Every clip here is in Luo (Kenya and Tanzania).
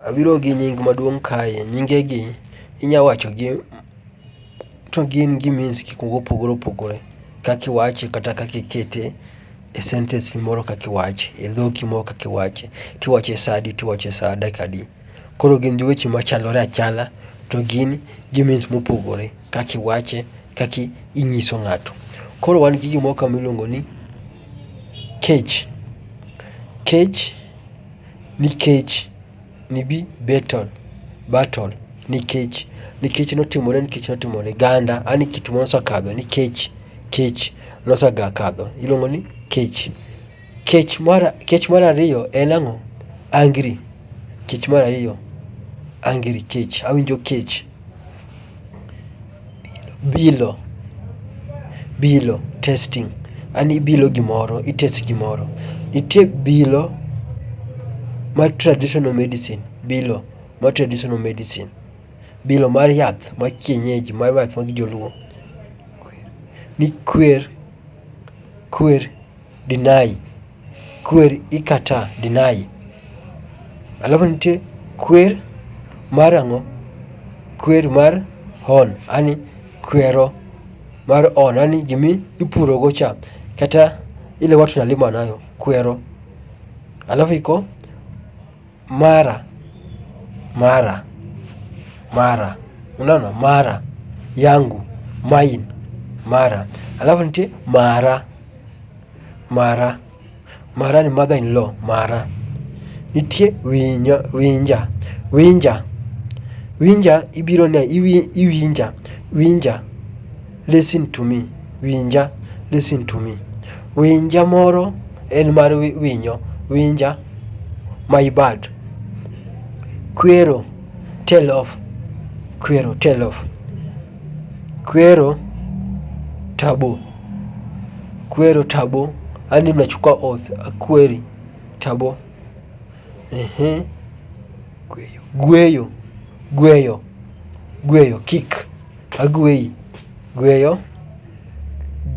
Abiro gi nying maduong' kae, nyinge gi inya wacho gi to gin gi means gik moko opogore opogore kaki wache kata kaki kete e sentence ni moro kaki wache, e dhoki moro kaki wache. Tiwache sa adi tiwache sa dakika adi. Koro gin gi weche machalore achala to gin gi means mopogore kaki wache, kaki ing'iso ng'ato. Koro wan gi gimoro ka miluongo ni kech, kech. Nikech, nibi Betel, Bertol, nikech, nikech notimore nikech notimore. Ganda, an kit moro osekadho nikech, kech, nosegakadho. Iluongo ni kech. Kech mar kech mar ariyo en ang'o? Angry, kech mar ariyo, angry, kech, awinjo kech. Bilo, bilo, testing. An ibilo gimoro, i test gimoro. Nitie bilo ma traditional medicine, bilo ma traditional medicine. Bilo mar yath ma kienyeji mar yath mag joluo. Ni kwer, kwer, deny. kwer ikata, deny. Alafu nitie kwer mar ang'o? Kwer mar on, ani kwero mar on, ani gimi ipurogo cha kata ile watu nalima nayo kwero. Alafu iko mara mara mara, unaona mara yangu mine mara, alafu nitie mara mara mara ni mother in law mara, nitie winyo winja winja winja ibiro ne iwinja winja Listen to me, winja. Listen to me, winja moro en mar winyo, winja. My bad, kwero, tell of, kwero, tell of, kwero, tabo, kwero, tabo, yani mnachukua oath, akweri, tabo, ehe, gweyo, gweyo, gweyo, gweyo, kick Agweyi, gweyo,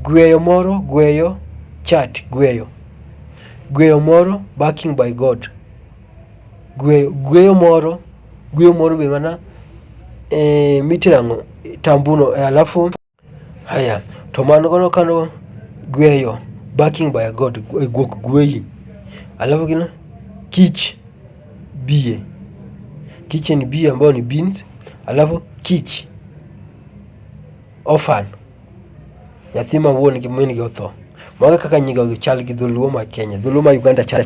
gweyo moro, gweyo, chat, gweyo, gweyo moro, backing by God, gweyo, gweyo moro, gweyo moro be mana eh, mitirang'o tambuno eh, alafu haya to mano kono kano gweyo backing by God, eh, guok gweyi alafu kino kich bie, kitchen bie ambayo ni beans, alafu kich ofan nyathi ma wuon gi min gi otho. Mago kaka nyigo chal gi dholuo ma Kenya, dholuo ma Uganda chal